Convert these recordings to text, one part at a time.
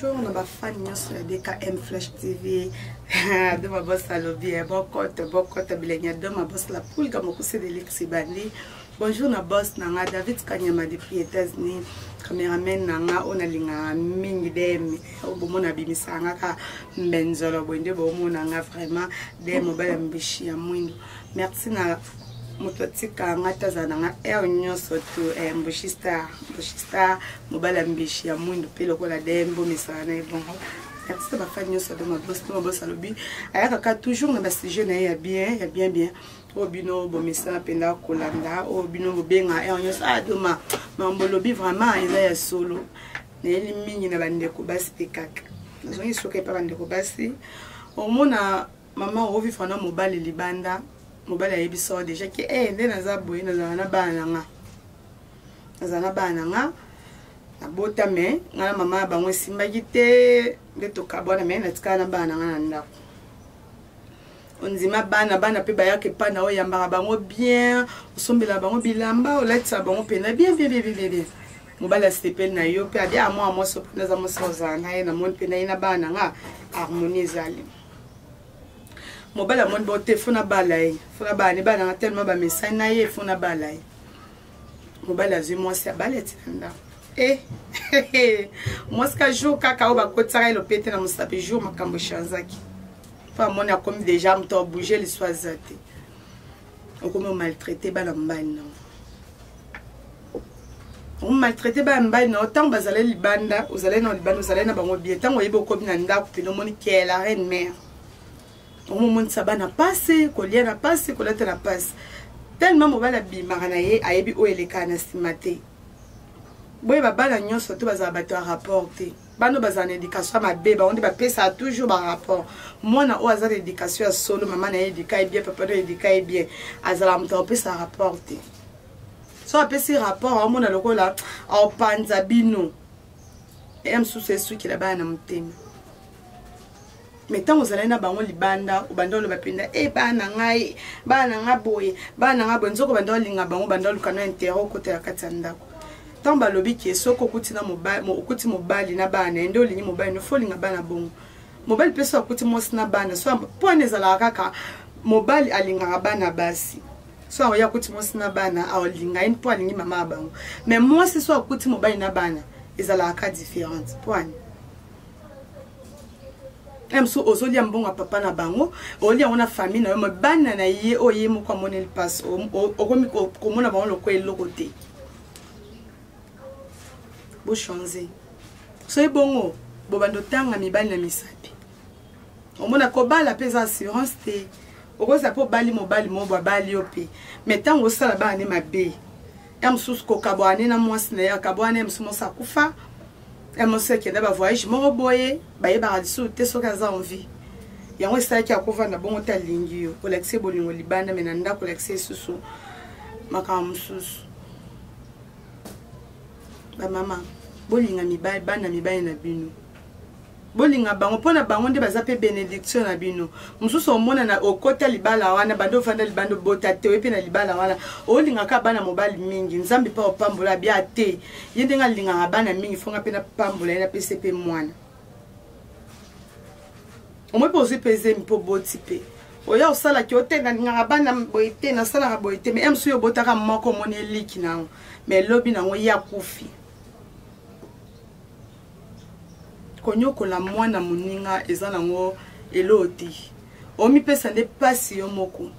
bonjour na bafani nyonso ya dkm flash tv doma bos alobi eh, bokoto bokoto bilenge ya doma bos la pulga mokuse de lexi bandi bonjour na bos na nga david kanyama depuis états-unis cameraman na nga oyo nalingaka mingi dm oyo bomona abimisaka nga ka mbenzolo boye nde bomona nga vraiment de mobali ya mbishi ya mwindo merci na moto atika nga te azala na nga heure nyonso to eh, mbushi star mbushi star mobali ya mbishi ya mwindu mpe lokola dm bomesana na ye bongo merci bafani nyonso ado mabos mpo mabos alobi ayaka kaka toujours na basujet na ye ya bien ya bien bien oyo bino bomesana mpenza kolanda oyo bino bobenga heure eh, nyonso adoma ah, mambo olobi vraiment eza ya solo nayeli mingi na bandeko basi mpe kaka nazongi soki epa bandeko basi omona mama ovivre na mobali libanda mobali ayebisa deja ke e eh, nde naza boye nazala na bana na nga naza na bana na nga nabota me nga na mama ya bango esimbaki te nde tokabwana me natikala na bana na nga na ndako ondima bana bana mpe bayaka epai na oyambaka bango bien osombela bango bilamba olatisaka bango mpenza bien bien bien bien bien mobali asepeli na yo mpe abi amwa ah, mwasi opena aza mwasi ozala na ye namoni mpe na ye na bana na nga harmonie ezali mobali amoni bote fona bala ye fona bala ne bana nga tellement bamesani na ye fona bala ye mobali azwi mwasi abali ati na ndako e eh, mwasi ka jour kaka oyo bakotisaka ye lopete na mosapi jour makambo echanzaki mpo amoni akomi deja moto abouge liso aza te okomi omaltraite bana mobali na omaltraite bana mobali na yo ntango bazali libanda ozali na libanda ozali na bango bie ntango oyebi okomi na ndako pene omoni kela reine mare omomonisa bana pasi kolia na pasi kolata na pasi tellement mobali abimaka na ye ayebi oyo elekaka na nsima te boye babana nyonso to bazala bato ya rapport te bano bazala na éducation ya mabe bango nde bapesaka toujours barapport mwana oyo aza na éducation ya solo mama na ye edika ye bien papa na edika ye bien azalaka moto akopesa rapport te so apesi rapport aomona lokola aopanza bino ya mosusu esukela bana na motema me ntango ozalai na bango libanda obanda oloba mpenza e eh, bana na ngai bana na ngai boye bana na ngai boye nzoka obanda olinga bango obanda oluka na intere okotela kati ya ndako ntango balobi ke soki okuti na mobali okuti mobali na bana na ye nde olingi mobali no fo olinga bana bongo mobali mpe soki akuti mwasi na bana so mpo wana ezalaka kaka mobali alingaka bana basi so akoki akuti mwasi na bana aolinga ye mpo alingi mama ya bango mais mwasi so akuti mobali na bana ezalaka ka différente mpo ani mso ozolia mbongo ya papa na bango olia yango na famille na yo ma bana na ye oyo ye moko amoneli mpasi okomi komona bango lokola eloko te bochange soki bongo bobanda otanga mibali na misapi omona kobala mpe eza assurance te okozala mpe obali mobali moko babali yo mpe mai ntango osala bana ne mabe ya mosusu kokabwana ne na mwasi na ye akabwana ne mosusu mosi akufa ya mosi akenda bavoyage moko boye bayebaka lisusu te soki aza envie yango esalaki akovanda bongo te alingi yo olakisa ye bolingo libanda me na ndako olakisa esusu makambo mosusu bamama bolinga mibali bana mibali na bino bolinga bango mpo na bango nde baza mpe benediction na bino mosusu omonana okota libala wana banda ofanda libanda obota te oye mpe na libala wana olingaka bana mobali mingi nzambe mpe opambola bia te ye ndenge alingaka bana mingi fonga mpe napambola ye napesi mpe mwana omoi mpe ozwi mpe ezemi mpe oboti mpe oya osalaki ote nalingaka bana boye te nasalaka boye te mai msu yo obotaka moko omoni eliki na yango mai lobi na yango ye akufi konyokola mwana moninga eza nango eloo te omipesa nde mpasi yo moko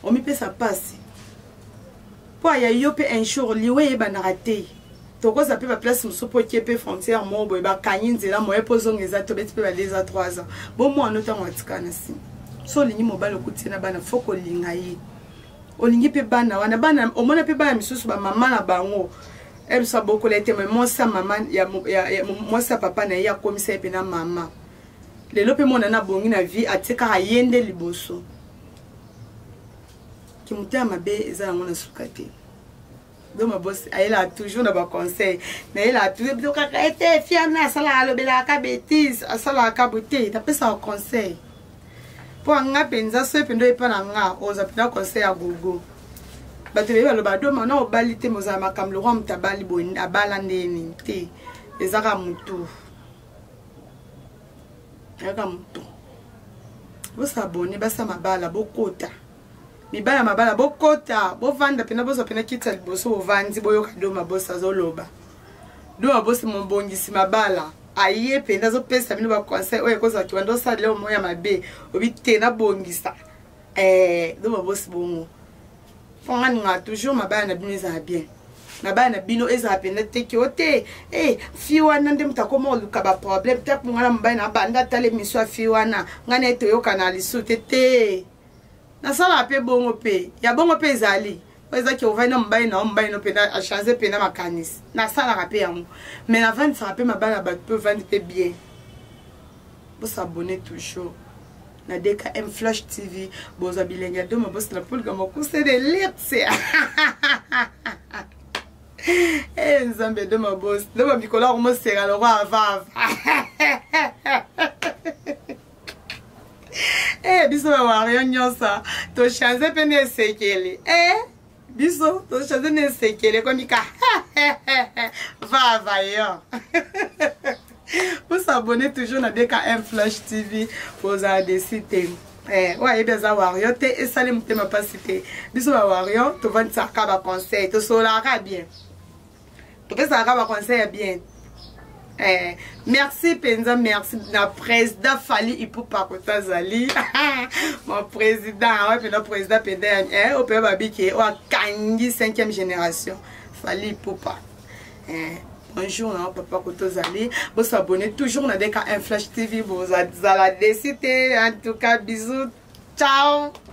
omipesa mpasi mpo aya yo mpe un jour liwa eyebandaka te tokoza mpe baplace mosusu mpo okie mpe frontière moko boye bakangi nzela moye mpo ozonga eza tobeti mpe badeza 3 ans bomwana ntango atika na nsima so olingi mobali okuti na bana fo kolinga ye olingi mpe bana wana bana omona mpe bana misusu bamama na bango ebiso abokola ete mwasi ya mama mwasi ya papa na ye akomisa ye mpe na mama lelo mpe mwana na abongi na vie atie kaka ye nde liboso kimotema mabe eza yango na suka te doma bosi ayelaka toujours na baconseil nayelaka toujours biso kaka ete eh, fiana asalaka alobelaka ka bétise asalaka ka bote napesaka conseil mpo anga mpenza soki mpenza epa na nga oza mpenza conseil ya gogo bato bebi baloba doma na obali te mozala makambo lokwa moto abali boye abala ndenge nini te ezaka motu ezaka motu bosabone basa mabala bokota mibali ya mabala bokota bovanda mpena bozwa mpena kiti ya liboso bovandi boyoka doma bosi azoloba doma bosi mobongisi mabala aye mpenza azopesa bino baconseil oyo ekozala kibanda osalela omo ya mabe obi te nabongisa eh, doma bosi bongo mpo nga ningaka toujours mabala na bino ezala bien mabala na bino ezala mpenza te ki o te e fi wana nde moto akoma oluka baproblème ntango ngai na mobali na banda atala emission ya fi wana ngai na ye toyokana lisusu te te nasalaka mpe bongo mpe ya bongo mpe ezali oyo ezaki ovandi na mobali na yo mobali no mpena achange mpena makanisi nasalaka mpe yango mai navandisaka mpe mabala ya bato mpe ovandi mpe bien bosabone toujours na dkm flash tv bozwa bilenge ya doma bosala polika mokuse de lirse e nzambe doma bosi doma mikolo yango moseka lokwa avava eh biso ba wario nyonso tochanze mpe na esekeli eh biso tochanze na esekeli ekomi ka vava yo vous abonnez toujours na bkm flash tv bozala desi te eh, oyo ayebi aza wario te esali motema mpasi te biso ba wario tovandisaka baconseil tosolaka bien topesaka kaka baconseil ya bien Eh, merci mpenza merci na président fali ipupa koto azali mon président oyo mpenza président mpenza eh, oyo mpenza babiki oyo akangi 5e génération fali ipupa eh, bonjour na papa koto ozali bosabone toujours na deka un flash tv bozala desi te en tout cas bisous ciao